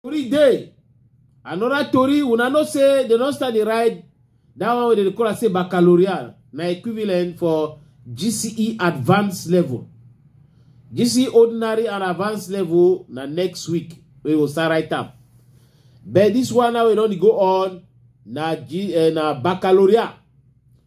Tori dey. Another tori, una know say they don start the ride that one wey dem dey call am say baccalaureate na equivalent for GCE advanced level. GCE ordinary and advanced level na next week we go start write am. But this one now we don dey go on na G, uh, na baccalaureate.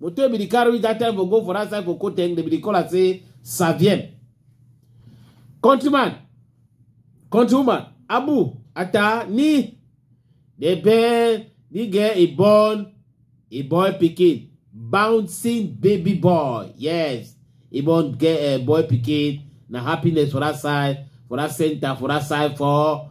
moto be dey carry that time for go for that side for koteng dem be dey call am say savien countryman countrywoman abu ata ni dey bear ni get a born a boy pikin bouncing baby boy yes e born get a boy pikin na happiness for that side for that center for that side for